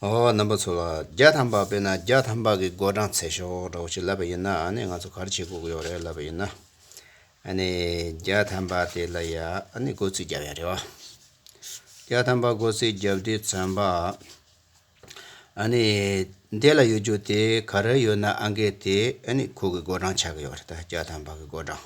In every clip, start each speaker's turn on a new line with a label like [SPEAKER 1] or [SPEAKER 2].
[SPEAKER 1] ཨོ་རྣམ་པ་ཚོ་ལ་རྒྱ་ཐམ་པག་སྤེལ་ན་རྒྱ་ཐམ་པག་གི་སྒོ་འགྲངས་ཚེ་ཤོག་འདྲ་བོ་ཅིག་ལབ་པ་ཡིན་ན་ཨ་ནི་ང་ཚོ་གར་བྱེད་སྒུག་ཡོག་རེད་ལབ་པ་ཡིན་ན་ཨ་ནི་རྒྱ་ཐམ་པག་དེ་ལ་ཡ་ཨ་ནི་སྒོ་རྩིས་རྒྱབ་ཡ་རེད་བ། རྒྱ་ཐམ་པག་སྒོ་རྩིས་རྒྱབ་དུས་ཚོན་པག་ཨ་ནི་དེ་ལ་ཡོད་རྒྱུ་དེ་ག་རེ་ཡོད་ན་ཨ་འགས་དེ་ཨ་ནི་ཁོ་གི་སྒོ་འགྲངས་ཆགས་ཀྱི་ཡོག་རེད་ད་རྒྱ་ཐམ་པག་གི་སྒོ་འགྲངས།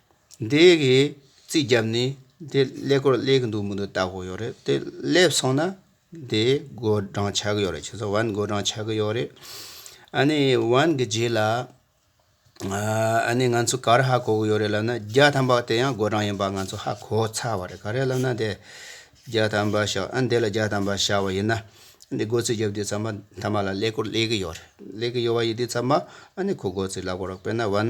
[SPEAKER 1] འདི་གིས་རྩིས་བརྒྱབ་ནས་དེ་ཀླད་ཀོར་ཀླད་གི་འདུག་མི་འདུག་ལྟ་དགོས་ཡོད་རེད་དེ་སླེབས་སོང་ན་དེ་བགོ་བགྲང་བྱ་གི་ཡོད་རེད་ཁྱེད་ཚོ་བན་བགོ་བགྲང་བྱ་གི་ཡོད་རེད། ཨ་ནི་བན་གི་རྗེས་ལ་ཨ་ནི་ང་ཚོ་གར་ཧ་གོ་གི་ཡོད་རེད་ལབ་ན་བརྒྱ་ཐམ་པ་དེ་ཡང་བགོ་བགྲང་ཡིན་པ་ང་ཚོ་ཧ་གོ་ཚར་བ་རེད་ག་རེ་ལབ་ན་དེ་བརྒྱ་ཐམ་པ་ཤག་ཨ་འདི་ལ་བརྒྱ་ཐམ་པ་བཞག་བ་ཡིན་ན་འདི་བགོ་རྩིས་བརྒྱབ་དུས་ཚང་མ་མཐའ་མ་ལ་ཀླད་ཀོར་ཀླད་གི་ཡོད་རེད་ཀླད་གི་ཡོད་པ་ཡིན་དུས་ཚང་མ་ཨ་ནི་ཁོ་བགོ་རྩིས་ལབ་དགོས་རོགས་དཔེར་ན་བན་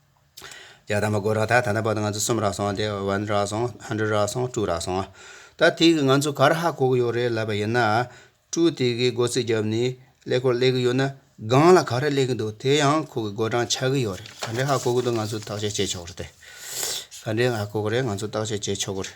[SPEAKER 1] རྒྱ་དམ་པ་སྒོ་ར་ཐག་ད་ལྟ་བར་དུ་ང་ཚོ་གསུམ་རག་སོང་སྟེ་ཝན་རག་སོང་ཧན་འགྲུལ་རག་སོང་ཀྲུའུ་རག་སོང། ད་ཐེངས་ཀྱི་ང་ཚོ་གར་ཧ་གོ་གི་ཡོད་རེད་ལབ་པ་ཡིན་ན། ཀྲུའུ་དེ་གའི་སྒོ་རྩིས་བརྒྱབ་ནས་ཀླད་ཀོར་སླེབས་ཀྱི་ཡོད་ན་སྒང་ལ་ག་རེ་སླེབས་ཀྱི་འདུག་དེ་ཡང་ཁོ་གི་སྒོ་གྲངས་ཆགས་ཀྱི་ཡོད་རེད་ག་འདྲའི་ཧ་གོ་གི་འདུག་ང་ཚོས་བརྟག་དཔྱད་བྱེད་ཆོག་གི་རེད། ག་འདྲའི་ཧ་གོ་གི་རེད་ང་ཚོས་བརྟག་དཔྱད་བྱེད་ཆོག་གི་རེད།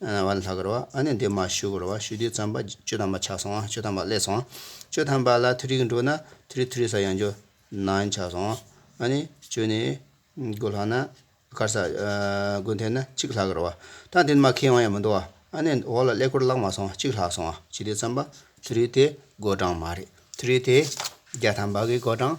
[SPEAKER 1] བ་ལྷག་གི་རོ། ཨ་ནི་འདི་མ་བཞུགས་གི་རོ། བཞུགས་དུས་བརྩམས་པ་བཅུ་ཐམ་པ་ཆགས་སོང་བཅུ་ཐམ་པ་བསླད་སོང། བཅུ་ཐམ་པ་ལ་མཐུ་རིགས་འགྲོ་ན་མཐུ་རིགས་མཐུ་རིགས་སར་ཡང་འགྱུར། ནང་ཆགས་སོང། ཨ་ནི་བཅུ་ནི་དགུ་ལྷག་ན། དཀར་ས། དགུ་འཐེན་ན་གཅིག་ལྷག་གི་རོ། ད་འདི་ནི་མ་ཁེངས་བ་ཡང་མི་འདུག་བ། ཨ་ནི་འོག་ལ་བསླད་སྐོར་བརླག་མ་སོང་གཅིག་ལྷག་སོང་བ་བྱས་དུས་བརྩམས་པ་མཐུ་རིགས་དེ་དགུ་གྲངས་མ་རེད་མཐུ་རིགས་དེ་བརྒྱ་ཐམ་པ་གི་དགུ་གྲངས་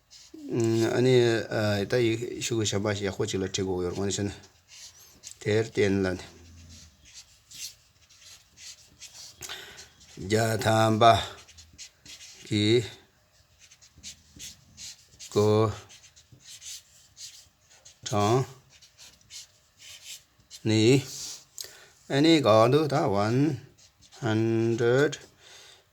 [SPEAKER 1] ཨ་ནི། ད་ཡིག་གཞུག་གི་བྱམས་པ་ཞིག་ཡག་པོ་ཅིག་ལ་བྲིས་དགོས་ཡོད་རེད། འོན་ཀྱང། དེར་བརྟེན་ལ། རྒྱ་དམ་པ། གི། སྐུ། དྲང། ནི། ཨ་ནི་དགའ་འདུག་ད་བན། ཧན་འགྲོལ།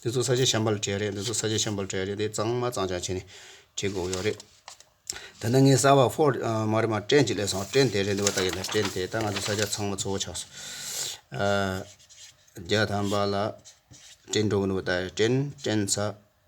[SPEAKER 1] འདི་ཚོ་ས་ཆ་བྱམས་པ་ལ་བྲེལ་རེད་འདི་ཚོ་ས་ཆ་བྱམས་པ་ལ་བྲེལ་རེད་འདི་གཙང་མ་གཙང་ཆགས་བྱས་ནས་བྲིས་དགོས་ཡོད་རེད། ད་ནངས་གསར་བ་ཧྥོར་མ་རེད་མ་ཀྲེན་གྱི་ལས་སོང་ཀྲེན་དེ་རེད་འདུག་བལྟ་གི་འདུག་ཀྲེན་དེ་ད་ང་ཚོའི་ས་ཆ་ཚང་མ་ཚོ་བོ་ཆགས་སོང། རྒྱ་དམ་པ་ལ་ཀྲེན་འགྲོ་གི་འདུག་བལྟ་ཀྲེན་ཀྲེན་ཚ།